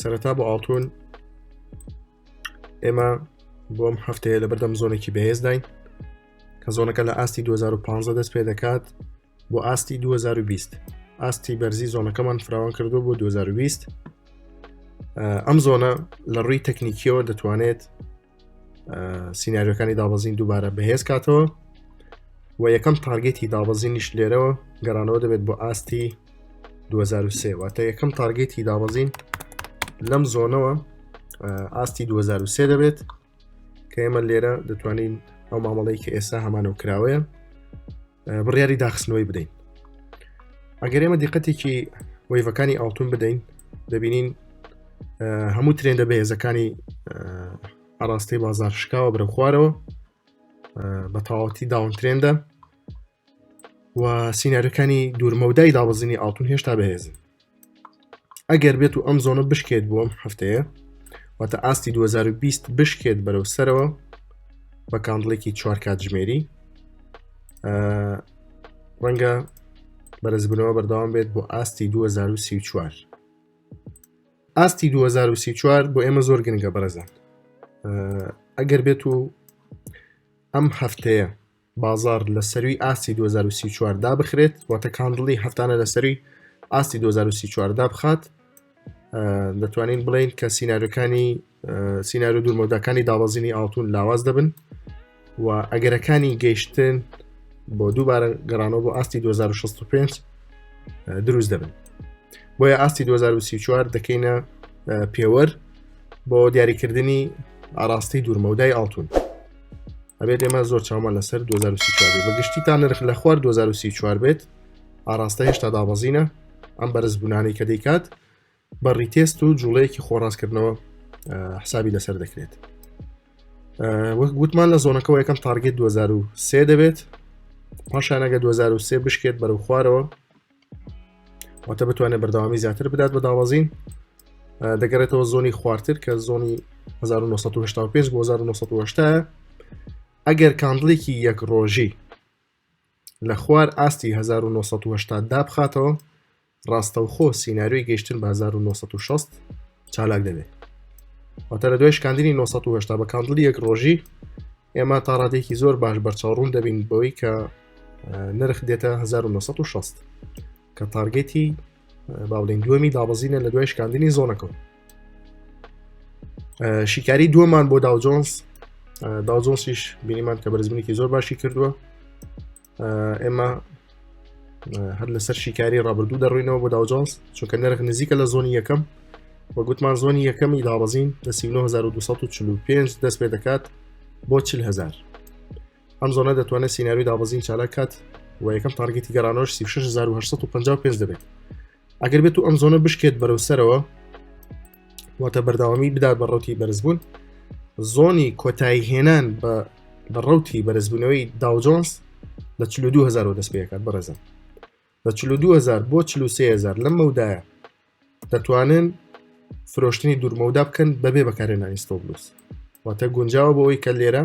سەرەتا بۆ ئاڵتون ئێمە بۆم هەفتەیە لە بەردەم زۆنێکی بەهێزداین کە زۆنەکە لە ئاستی 2015 دەست پێ دەکات بۆ ئاستی 2020 ئاستی بەرزی زۆنەکەمان فراوان کردو بۆ 2020 ئەم زۆنە لە ڕووی تەکنیکیەوە دەتوانێت سینناریەکانی دابەزین دووبارە بەهێز کاتەوە و یەکەم تارگێتی دابەزینیش لێرەوە گەرانەوە دەبێت بۆ ئاستی 2023 واتە یەکەم تارگێتی دابەزین لەم زۆنەوە ئاستی 2023 دەبێت کە ئێمە لێرە دەتوانین ئەو مامەڵەی کە ئێستا هەمانە و کراوەیە بڕیاری داخستنەوەی بدەین ئەگەر ئێمە دیقەتێکی وەیڤەکانی ئاڵتون بدەین دەبینین هەموو ترێندە بەهێزەکانی ئاراستەی بازار شکاوە برە خوارەوە بە تەواوەتی داون ترێندە و سینارەکانی دوورمەودای دابزینی ئاڵتون هێشتا بەهێزن ئەگەر بێت و ئەم زۆنە بشکێت بووم هەفتەیە واتە ئاستی 2020 بشکێت بەرەو سەرەوە بە کاندڵێکی چوار کاتژمێری ڕەنگە بەرزبنەوە بەردەوام بێت بۆ ئاستی 2024 ئاستی 2024 بۆ ئێمە زۆر گرنگە بەرەزان ئەگەر بێت و ئەم هەفتەیە بازاڕ لە سەروی ئاستی دوو هەزار و سی و چوار دابخرێت، واتە کاندڵی هەفتانە لە سەروی ئاستی دوو هەزار و سی و چوار دابخات، ئە، دەتوانین بڵێین کە سیناریۆکانی، ئە، سیناریۆ دوورمەوداکانی دابەزینی ئاڵتوون لاواز دەبن و ئەگەرەکانی گەیشتن بۆ دووبارە گەڕانەوە بۆ ئاستی دوو هەزار و شەست و پێنج، ئە، دروست دەبن. بۆیە ئاستی دوو هەزار و سی و چوار دەکەینە، ئە، پێوەر بۆ دیاریکردنی ئاڕاستەی دوورمەودای ئاڵتوون. ئەبێت ئێمە زۆر چامان لەسەر 2024 بە گشتی تا نرخ لە خوار 2024 بێت ئاراستە هێشتا دابەزینە ئەم بەرزبوونانی کە دەیکات بە ڕیتێست و جوڵەیەکی خۆڕاستکردنەوە حسابی لەسەر دەکرێت وەک گوتمان لە زۆنەکەەوە یەکەم تارگێت 2023 دەبێت پاشانەگە 2023 بشکێت بەرەو خوارەوە واتە بتوانێت بەردەوامی زیاتر بدات بە داوازین دەگەڕێتەوە زۆنی خوارتر کە زۆنی 1995 بۆ 1970 ئەگەر کاندڵێکی یەک ڕۆژی لە خوار ئاستی 1970 دابخاتەوە ڕاستەوخۆ سینناریۆی گەشتن بە 1960 چالاک دەبێت واتە لە دوای شکاندنی 1970 بە کاندڵی یەک ڕۆژی ئێمە تا ڕادێکی زۆر باش بەرچاوڕوون دەبین بەوەی کە نرخ دێتە 1960 کە تارگێتی باڵێن دووەمی دابەزینە لە دوای شکاندنی زۆنەکەم شیکاری دووەمان بۆ داوجۆنس داوجۆنسیش بینیمان کە بەرزبنێکی زۆر باشی کردووە ئێمە هەر لەسەر شیکاری ڕابردوو دەڕوینەوە بۆ داوجانس چونکە نرخ نزیکە لە زۆنی یەکەم وە گوتمان زۆنی یەکەمی داڕزین لە 1945 دەست پێ دەکات بۆ 400هزار ئەم زۆنە دەتوانێت سینناوی دابزین چالاکات و یەکەم تارگەتی گەرانۆش 1950 دەبێت ئەگەر بێت و ئەم زۆنە بشکێت بەرەو سەرەوە واتە بەرداوامی بدات بە ڕوتی بەرزبوون زۆنی کۆتایی هێنان بە بە ڕوتی بەرزبوونەوەی داوجۆنس لە 2000 دەست پێکات بەڕێزم لە 2000 بۆ 3000 لەم مەودایە دەتوانن فرۆشتنی دوورمەودا بکەن بەبێ بەکارێنانی ستۆبلوس واتە گونجاوە بۆەوەی کە لێرە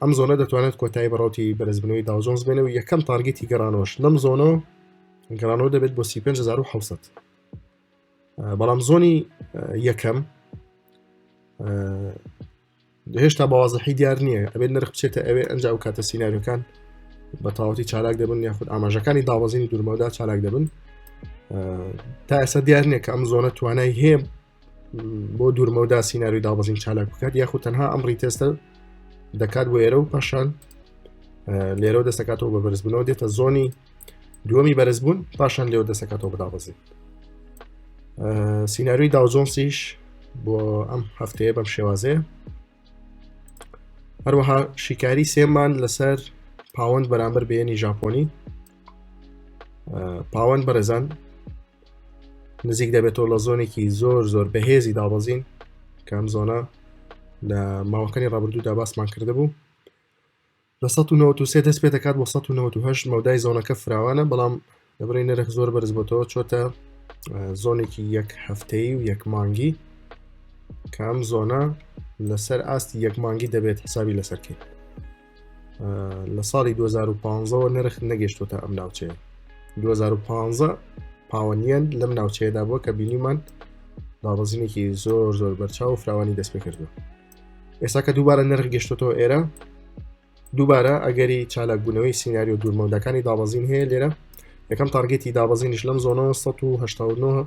ئەم زۆنە دەتوانێت کۆتایی بەڕوتی بەرزبنەوەی داوجۆنز بێنە و یەکەم تارگەتی گەڕانەوەش لەم زۆنە گەڕانەوە دەبێت بۆ 5600 بەڵام زۆنی یەکەم هێشتا بەوازەحی دیار نییە ئەبێت نرخ بچێتە ئەوێ ئەنج و کاتە سینناریەکان بە تاوەتی چالاک دەبن یاخود ئاماژەکانی داوەزینی دوورمەدا چالاک دەبن تا ئێستا دیار نییە کە ئەم زۆنە توانای هەیە بۆ دوورمەودا سینناوی دابەزین چالاک بکات یاخود تەنها ئەم ڕیتێستە دەکات بۆ ئێرە و پاشان لێرە دەسەکاتەوە بە بەرزبوونەوە دێتە زۆنی دووەمی بەرزبوون پاشان لێو دەسەکاتەوە بدابەزین سینناروی داوجۆنسیش بۆ ئەم هەفتەیە بەم شێوازێ هەروەها شیکاری سێمان لەسەر پاوەند بەرامبەر بێنی ژاپۆنی پاوەند بەرەزان نزیک دەبێتەوە لە زۆنێکی زۆر زۆر بەهێزی دابەزین کام زۆنە لە ماوەکانی ڕابردوودا باسمان کرده بوو لە 1993 دەست پێ دەکات بۆ 1990 مەودای زۆنەکە فراوانە بەڵام لەبری نرخ زۆر بەرز بۆتەوە چۆتە زۆنێکی یەک هەفتەی و یەک مانگی کام زۆنە لەسەر ئاستی یەک مانگی دەبێت حسابی لەسەرکەیت لە ساڵی 2015ەوە نرخ نەگەشتوتە ئەم ناوچەیە 2015 پاوەنیەن لەم ناوچەیەدا بووە کە بینیمان دابەزینێکی زۆر زۆر بەرچاو و فراوانی دەست پێ کردو ئێستا کە دووبارە نرخ گەشتۆتەوە ئێرە دووبارە ئەگەری چالاکبوونەوەی سینناریو دوورمەودەکانی دابەزین هەیە لێرە یەکەم تارگەتی دابەزینش لەم زۆنە 1970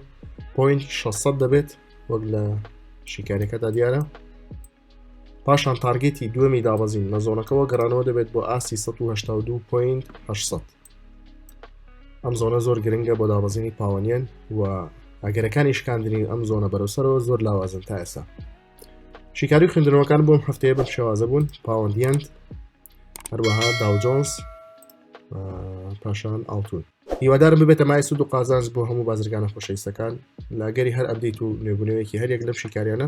پوین 600 دەبێت وەک لە شیکارەکەدا دیارە پاشان تارگێتی دووەمی دابەزین لە زۆنەکەەوە گەڕانەوە دەبێت بۆ ئاستی 1970 ئەم زۆنە زۆر گرنگە بۆ دابەزینی پاوەنیان و ئەگەرەکانی شکاندنی ئەم زۆنە بەرەسەرەوە زۆر لاوازن تا ئێستا شیکاری خوێندنەوەکان بۆم هەفتەیە بەم شێوازە بوون پاوەندیاند هەروەها داوجۆنس پاشان ئاڵتون هیوادارم ببێتە مای سود و قازانج بۆ هەموو بازرگانە خۆشەویستەکان لەگەری هەر ئەبدیت و نوێبوونەوەیەکی هەریەک لەم شیکاریانە